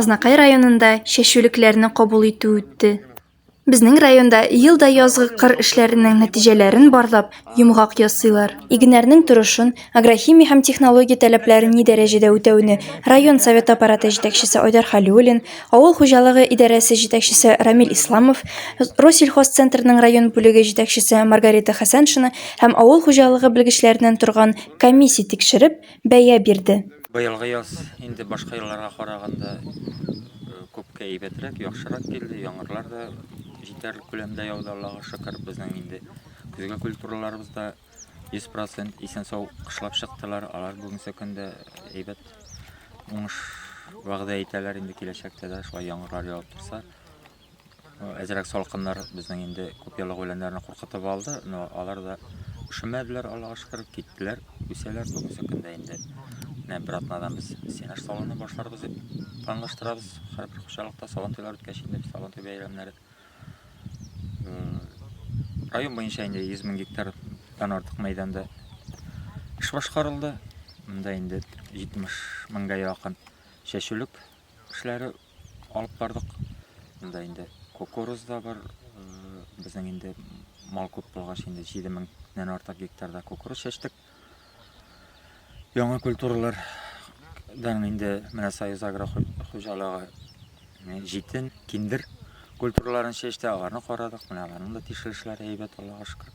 Азнакай районында чәчүлекләрне кабул итү үтте. Безнең районда ел да язгы кыр эшләренең нәтиҗәләрен барлап, йомгак ясыйлар. Игеннәрнең торышын, агрохимия һәм технология таләпләрен ни дәрәҗәдә үтәүне район Советы аппараты җитәкчесе Айдар Хәлиуллин, авыл хуҗалыгы идарәсе җитәкчесе Рамил Исламов, Россельхозцентрның район бүлеге җитәкчесе Маргарита Хәсәншина һәм авыл хуҗалыгы белгечләреннән торган комиссия тикшереп, бәя бирде. Быелгы яз инде башка елларга караганда күпкә әйбәтрәк, яхшырак килде. Яңгырлар да җитәрлек күләмдә яуды, Аллага шөкер. Безнең инде көзге культураларыбыз да 100% исән-сау кышлап чыктылар. Алар бүгенге көндә әйбәт уңыш вәгъдә итәләр. Инде киләчәктә дә шулай яңгырлар явып торса, Әзрәк салкыннар безнең инде күп еллык үләннәрне куркытып алды, но алар да ошымәделәр, Аллага шөкер, киттеләр, үсәләр бүгенге көндә инде. Менә бер атнадан без сенаж салуны башларбыз дип планлаштырабыз. Һәрбер хуҗалыкта сабантуйлар үткәч инде сабантуй бәйрәмнәре. Район буенча инде 100 мең гектардан артык мәйданда эш башкарылды. Монда инде 70 меңгә якын чәчүлек эшләре алып бардык. Монда инде кукуруз да бар. Безнең инде мал күп булгач инде 7000-нән артык гектарда кукуруз чәчтек. Яңа культуралар дан инде менә Союз агро хуҗалыгы җитен, киндер культураларын чәчте, аларны карадык. Менә аларның да тикшерешләре әйбәт, Аллага шөкер.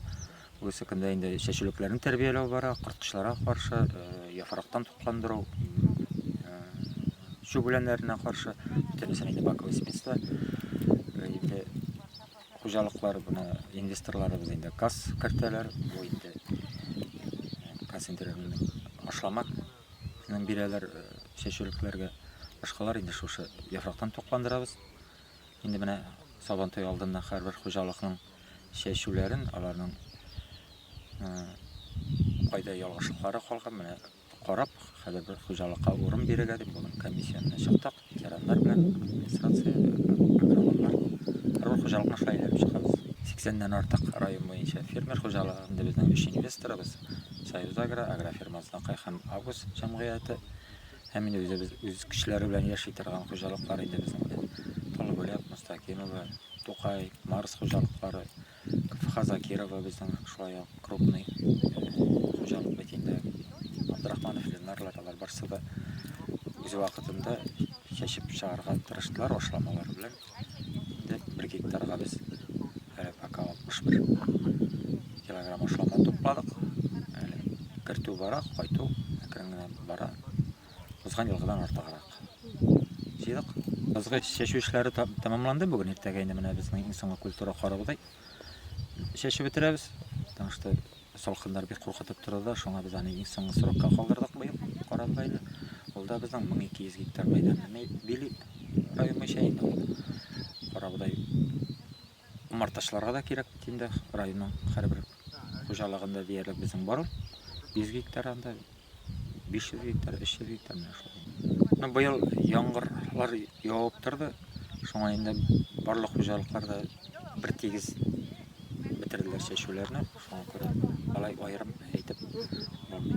Бусы көндә инде чәчүлекләрне тәрбияләү бара, корткычларга каршы, яфрактан тукландыру, чүп үләннәренә каршы, бөтенесен инде баковый спецта. Инде хуҗалыклар буны инвесторларыбыз инде кас кертәләр, бу инде концентрированный ашлама ның бирәләр э, чәчүлекләргә. Башкалар инде шушы яфрактан тукландырабыз. Инде менә Сабантуй алдыннан һәрбер хуҗалыкның чәчүләрен, аларның кайда ялгышлыклары калган, менә карап, хәзер бер хуҗалыкка урын бирергә дип, бүген комиссиянә чыктык, ветераннар белән, администрация, агрономнар. Һәр хуҗалыкны шулай әйләнеп чыгабыз. 80-дән артык район буенча фермер хуҗалыгы, инде безнең өч инвесторыбыз, Союз Агро, Агрофирма Знакай һәм Агус җәмгыяте. Һәм инде үзебез үз көчләре белән яши торган хуҗалыклар инде безнең. Талгуләк, Мустакимова, Тукай, Марс хуҗалыклары, КФХ Закирова безнең шулай ук крупный э, хуҗалык бит инде. Абдрахманов Ленарлар алар барсы да үз вакытында чәчеп чыгарга тырыштылар ашламалар белән. Дәк бер гектарга без әле пока 61 килограмм ашлама тупладык. Әле кертү бара, кайту әкрен генә бара. Узган елгыдан артыграк. Җыйдык. Ызгыч чәчү эшләре тәмамланды бүген иртәгә инде менә безнең иң соңгы культура карагыдай. Чәчеп бетерәбез, потому что Салкыннар бик куркытып торды да, шуңа без аны иң соңгы срокка калдырдык быел, карар бәйле. Ул да безнең 1200 гектар мәйданны били район буенча, инде ул карабодай умартачыларга да кирәк бит инде, районның һәрбер хуҗалыгында диярлек безнең бар ул, 100 гектар анда. 500 гектар, 300 гектар менә шулай. Ну, быел яңгырлар явып торды, шуңа инде барлык хуҗалыклар да бер тигез бетерделәр чәчүләрне, шуңа күрә алай аерым әйтеп булмый.